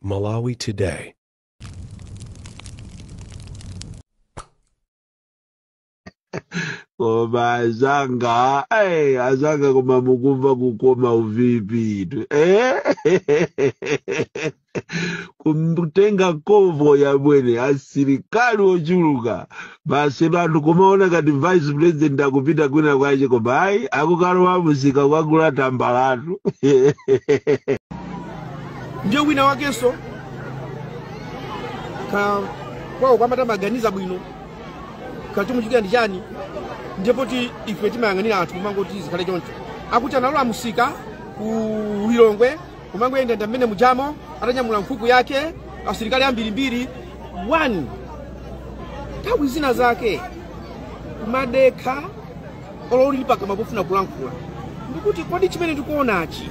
Malawi Today. koma azanga eh, azanga koma mukumva kukoma uVP-tu eh? kumtenga convoy yabwino asilikali ochuluka basi anthu kumaona ngati vice president akupita kwina kwache koma ayi akukalowa mumsika kukagula tambalatu ndiye wina wakenso ka kwawo kwamata maganiza bwino kachumuchitira ndi chani ndiye poti ife timayang'anira anthu kumangoti zikhale choncho akuti analowa mumsika ku lilongwe kumangoyendayenda mmene mujamo atanyamula nkhuku yake asilikali ambirimbiri nthawi zina zake kumadekha olo uli pakamwa pofuna kulankhula ndikuti kodi chimene tikuonachi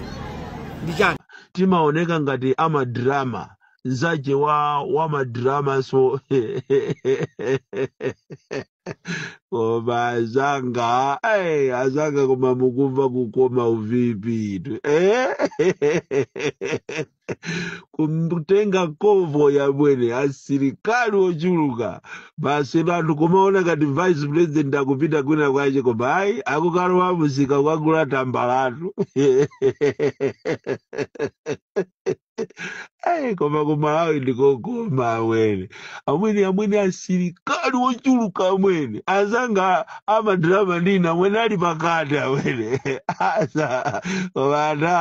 ndi chani timaoneka ngati amadrama nzache wa wamadramanso koma azanga eh, azanga koma mukumva kukoma uVP-tu eh? kumtenga convoy yabwino asilikali ochuluka basi anthu kumaona ngati vice president akupita kwina kwache koma ayi akukalowa mumsika kukagula tambalatu Ai, koma kumalawi ndikokoma amwene amwene amwene asilikali wochuluka amwene azanga amadrama ndina amwene ali pakati amwene asa vana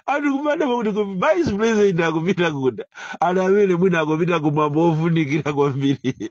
anthu kumada pakuti ku vice president akupita kuda ana amene mwina akupita kumwambo ofunikira kwambiri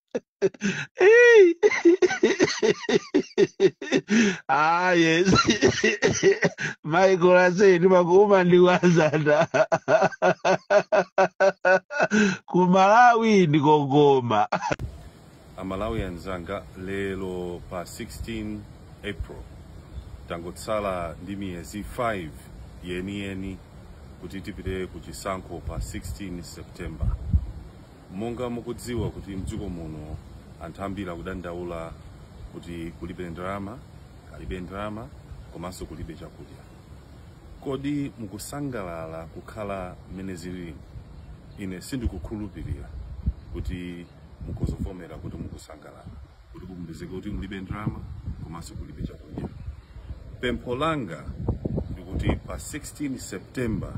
Hey. ah, yes. Michael Usi, ndi pakuuma ndi wazada. Kumalawi ndi kokoma. amalawi anzanga lero pa 16 april tangotsala ndi miyezi 5 yeniyeni kuti tipite ku chisankho pa 16 september Monga mukudziwa kuti mdziko muno anthu ambiri akudandaula kuti kulibe ndalama, alibe ndalama komanso kulibe chakudya. Kodi mukusangalala kukhala mmene zilili? Ine sindikukhulupirira kuti mukuzivomera kuti mukusangalala. kuti kupezeke kuti mulibe ndalama komanso kulibe chakudya pempho langa ndikuti pa 16 september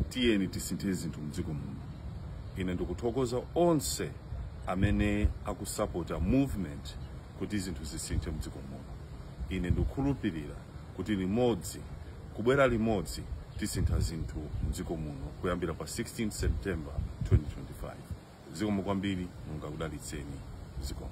tiyeni tisinthe zinthu mdziko muno ine ndikuthokoza onse amene akusapota movement kuti zinthu zisinthe mdziko muno ine ndikukhulupirira kuti limodzi kubwera limodzi tisintha zinthu mdziko muno kuyambira pa 16 september 2025 zikomo kwambiri mulungu akudalitseni zikomo